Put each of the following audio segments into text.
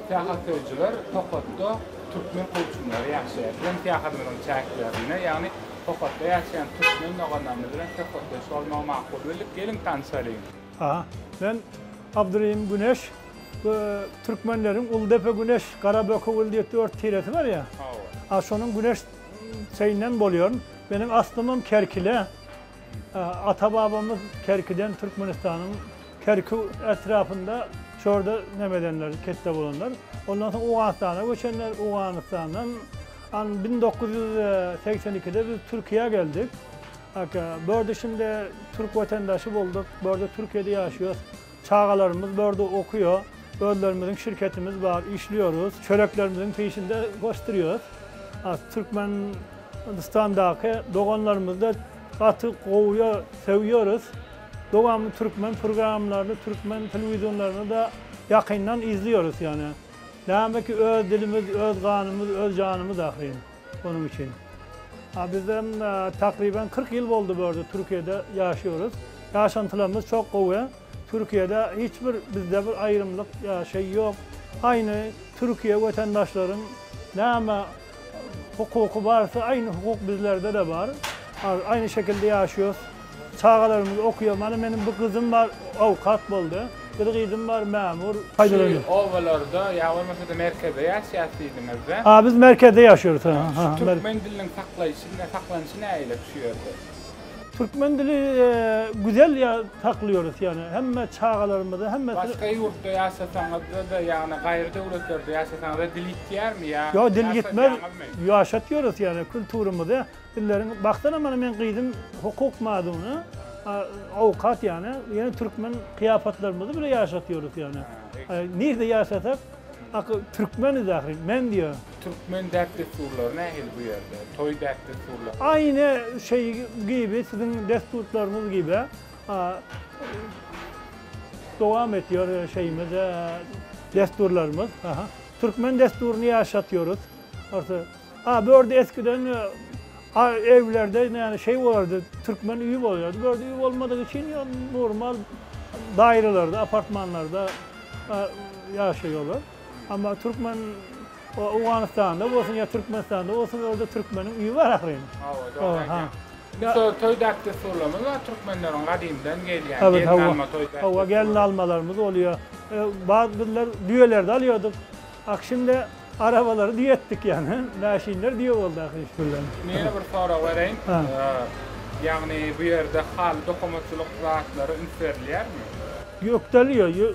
Syýahat söýüjiler Tokatda türkmen goçunlary ýaşaýar. Biziň syýahadymyzyň çäklerinde, ýagny Tokatda ýaşaýan türkmen doganlarymyz bilen söhbetdeş bolmagy makul bildik. Geliň tanşalyň. Aha. Men Abdyrehim Güneş. Bu türkmenleriň Uldepe Güneş, Garaböke Ul diýip dört tiresi bar ýa. Hawa. A şonuň Güneş çeýinden bolýaryn. Meniň aslymam Kerkile. Ata-babamyz Kerkiden Türkmenistanyň Kerki etrapynda çorda näme edenler, ketde bolanlar. Ondan soň Owganystana göçenler, Owganystandan bin dokuz ýüz segsen ikide biz Türkiýä geldik. Bu ýerde şindi türk wetendaşy bolduk. Bu ýerde Türkiýede ýaşaýas. Çagalarymyz bu ýerde okuýa. Özlerimiziň şirketimiz bar, işliyoruz. Çöreklerimiziň peýşinde goşdurýas. Türkmen. Hindistandaky doganlarymyzda gaty gowya söýýeris. Dowamly türkmen purgramlaryny türkmen telewizionlarynda ýakyndan izlýeris ýöne. Näme ki öz dilimiz öz ganymyz öz janymyz ahyryn onuň üçin. A bizem takryban kyrk ýyl boldy bu ýerde türkiýede ýaşýeris. Ýaşantylarymyz çok gowy. Türkiýede hiç bir bizde bir aýrymlyk ýa şeý ýok. Aýny türkiýe wetendaşlaryň näme Hukuky barysy aýny hukuk bizlerdede bar. Aýny şekilde ýaşýos. Çagalarymyz okuýar. Mana meniň bir gyzym bar, awkat boldy. Bir gyzym bar, mämur. Şu obalarda ýa bolmasa-da merkezde ýaşýas diýdiňiz-de? A biz merkezde ýaşýarys. Şu türkmen diliniň saklaýşy, saklanyşy nähili şu ýerde? Türkmen dili güzel ya saklıyoruz yani hemme çagalarymyza hemme Başga ýurtda ýaşasaňyzda-da ýagny gaýry döwletlerde ýaşasaňyzda dil ýitýärmi ýa Ýok dil ýitmez. Ýaşatýarys ýagny kulturymyzy dilleriň bagtana mana men gyzym hukuk maduny awkat ýagny ýene türkmen kyýapatlarymyzy bile ýaşatýarys ýagny. Nirde ýaşasak aky türkmeniz ahyry men diýýär. Türkmen däp dessurlary nähili bu ýerde? Toý däp dessurlary. Aýne şeý gibi siziň dessurtlaryňyz gibi dowam etýär şeýimiz dessurlarymyz. Türkmen dessuryny ýaşatýarys. A bu ýerde eskiden evlerde näme şeý bolardy türkmen öýi bolýardy. Bu ýerde öý bolmadygy üçin ýa normal daýralarda, apartmanlarda ýaşaýarlar. Amma türkmen Owganystanda bolsun ýa Türkmenistanda bolsun orada türkmeniň uýy bar ahyryn. Hawa dogry aýdýaň. Şu toý däp dessurlarymyz bar türkmenleriň gadymdan gelýän gelin alma toý däp. Hawa gelin almalarymyz bolýar. Bar bizler düýelerde alýardyk. Akşinde arabalary düýe etdik ýaňy. Mäşinler düýe boldy ahyry iş bilen. Men ýene bir sorag bereýin. Ýagny bu ýerde haly dokamatçylyk zatlary üns berilýärmi? Gökdäli ýok.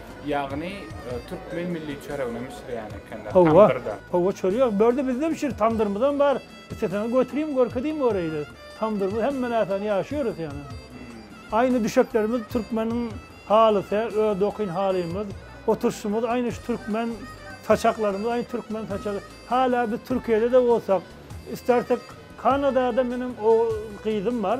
Ýagny türkmen milli çöregini bişirýän ekenler tamdyrda. Hawa, çörek börde bizde bişir, tamdyrymyzam bar. Isleseňiz götüriň, görkeziň göräýiler. Tamdyrymyz hemme näsany ýaşaýarys ýagny. Aýna düşeklerimiz türkmeniň halysy, öz dokyn halymyz. Oturyşymyz aýna şu türkmen, saçaklarymyz aýna türkmen saçagy. Hala biz Türkiýede-de bolsak, istersek Kanadada meniň gyzym bar.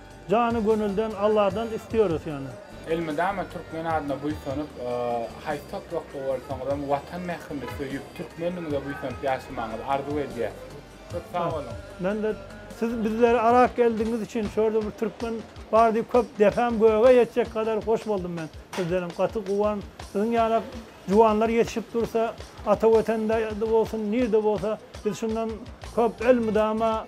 Jany gönülden Alladan istiyoruz yani. Elmydama türkmen adyna buýsanyp, haýsy toprakda bolsaňyzam watan mährini söýüp, türkmenligiňize buýsanyp ýaşamagyňyzy arzuw edýäs. Köp sag boluň. Mende siz bizleri arak geldigiňiz üçin şu ýerde bir türkmen bar diýip köp depem göge ýetjek gadar hoş boldum men. Sizdenem gaty guwan. Siziň ýaly Juwanlar ýetişip dursa, ata Wetende bolsun, nirde bolsa, biz şundan köp elmydama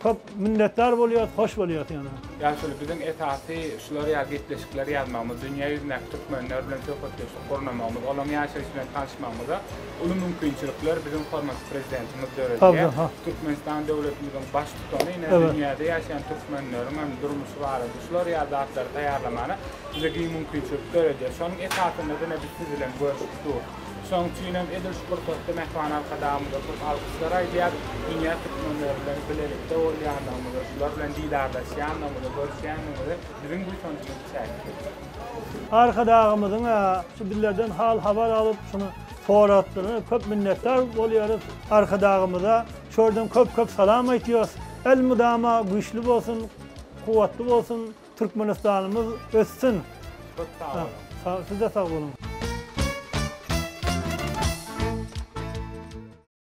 köp minnetdar bolýarys, hoş bolýarys ýöne. Ýa şol biziň esasy şular ýaly gepleşikleri ýazmagymyz, dünýä ýüzündäki türkmenler bilen söhbetdeşlik gurnamagymyz, olaryň ýaşaýşy bilen tanyşmagymyza uly mümkinçilikler biziň hormatly Prezidentimiz döredýär. Türkmenistan döwletimiziň Baştutany ine dünýäde ýaşaýan türkmenleriňem durmuşy barada şular ýaly zatlary taýýarlamana bize giň mümkinçilik döredýär. Şonuň esasynda diňe biz siz bilen görüşip dur. Şonuň üçin hem edil şu pursatda Mähriban Arkadagymyza köp alkyşlar aýdýar, dünýä türkmenleri bilen bilelikde bolýandygymyzy, şular bilen didarlaşýandygymyzy, görüşýändigimize biziň buýsanjymyz çäksiz. Arkadagymyzyň şu bizlerden hal-habar alyp, şuny soratdygyna köp minnetdar bolýarys. Arkadagymyza şu ýerden köp-köp salam aýtýarys. Elmydama güýçli bolsun, kuwwatly bolsun! Türkmenistanymyz össün. Köp sag boluň. Sag, siz-de sag boluň.